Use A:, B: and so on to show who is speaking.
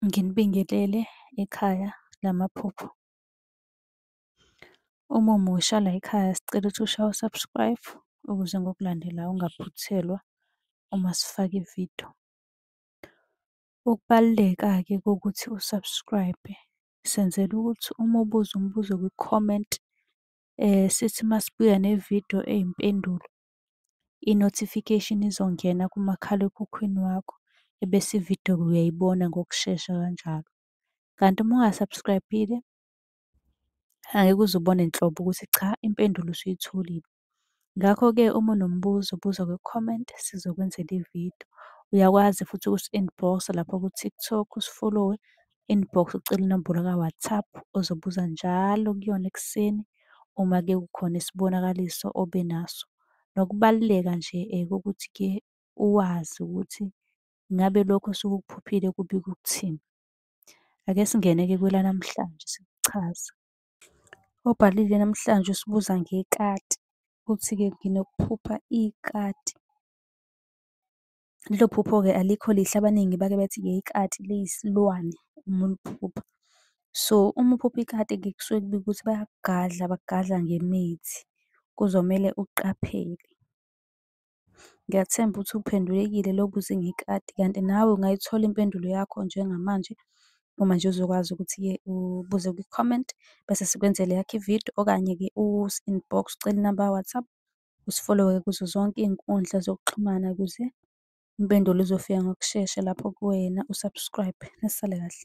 A: Nginibingelele ekhaya lamaphupho. Uma umusha la ekhaya sicela ukuthi ushaye u-subscribe ukuze ngokulandela ungaphuthelwa uma sifaka ividiyo. Ukubaluleka-ke kokuthi u-subscribe senzela ukuthi uma ubuza umbuzo kwi-comment sithi uma sibuya nevidiyo eyimpendulo i-notification izongena kumakhalekhukhwini wakho ebese ividiyo-ke uyayibona ngokushesha kanjalo. Kanti uma unga-subscribe-ile angeke uze ubone nhlobo ukuthi cha impendulo usuyitholile. Ngakho-ke uma unombuzo buza kwi-comment sizokwenzela ividiyo. Uyakwazi futhi ukusi-inbox-a lapha ku-TikTok usifolowe inbox ucele inombolo ka-WhatsApp ozobuza njalo kuyona ekuseni uma ke kukhona isibonakaliso obe naso. Nokubaluleka nje eh, kokuthi ke uwazi ukuthi ngabe lokho osuke ukuphuphile kubika ukuthini. Ake singene-ke kwelanamhlanje sikuchaza. Obhalile namhlanje usibuza ngekati, uthi-ke nginokuphupha ikati. Lelo phupho-ke alikho lihle, abaningi bake bethi-ke ikati liyisilwane uma uliphupha. So, uma uphupha ikati-ke kusuke kubikwa ukuthi bayakugadla, bakugadla ngemithi, kuzomele uqaphele. Ngiyathemba ukuthi uphendulekile lowo obuze ngekati, kanti nawe ungayithola impendulo yakho njengamanje uma nje uzokwazi ukuthi-ke ubuze kwi-comment bese sikwenzela eyakho i-video okanye-ke usi-inbox ucele inamba ka-WhatsApp usifollowe kuzo zonke iy'nkundla zokuxhumana ukuze impendulo izofika ngokushesha lapho kuwena u-subscribe. Nisale kahle.